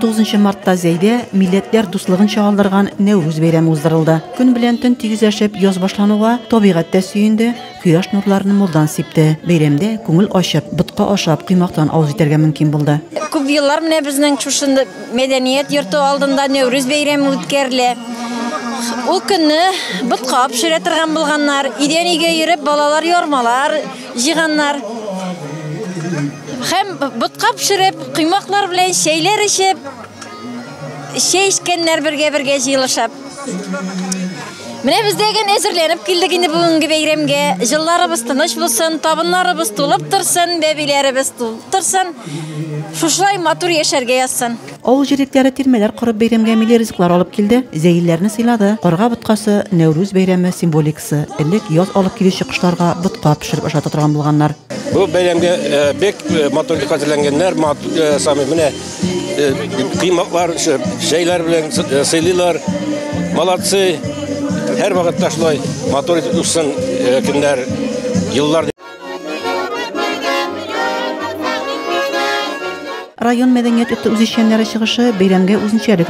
19 мартта Зәйдә милләтләр дуслыгын чагылдырган Нәүрүз бәйрәме уздырылды. Көн белән төн тигезләшеп яз башлануга табигать тә сөенде, кояш нурларын мулдан сипте. Бәйрәмдә күңел ачып, ботка ашап, коймактан авыз итәргә мөмкин булды. Күп еллар менә безнең шушында Мәдәният йорты алдында Нәүрүз бәйрәме үткәрелә. Ул көнне ботка пешерә торган булганнар, идән өйгә йөреп балалар ярмалар җыйганнар. Һәм ботка пешереп, коймаклар белән чәйләр эчеп, чәй эчкәннәр бергә-бергә җыелышып. Менә без дә генә әзерләнеп килдек инде бүгенге бәйрәмгә. Җылларыбыз тыныч булсын, табыннарыбыз тулып торсын, бәбиләребез тулып торсын. Шушылай матур яшәргә язсын. Авыл җирлекләре тирмәләр корып бәйрәмгә милли ризыклар алып килде, зәйлеләрне сыйлады. Карга боткасы, Нәүрүз бәйрәме символикасы. Элек яз алып килүче кошларга ботка пешереп ашата торган булганнар. Бу бәйрәмгә бик матур итеп хәзерләнгәннәр. Самый менә Кыймаклар, чәйләр белән сыйлыйлар. Молодцы. Һәр вакытта шулай матур итеп үссен көннәр, еллар. Район мәдәният йорты үзешчәннәре чыгышы бәйрәмгә үзенчәлек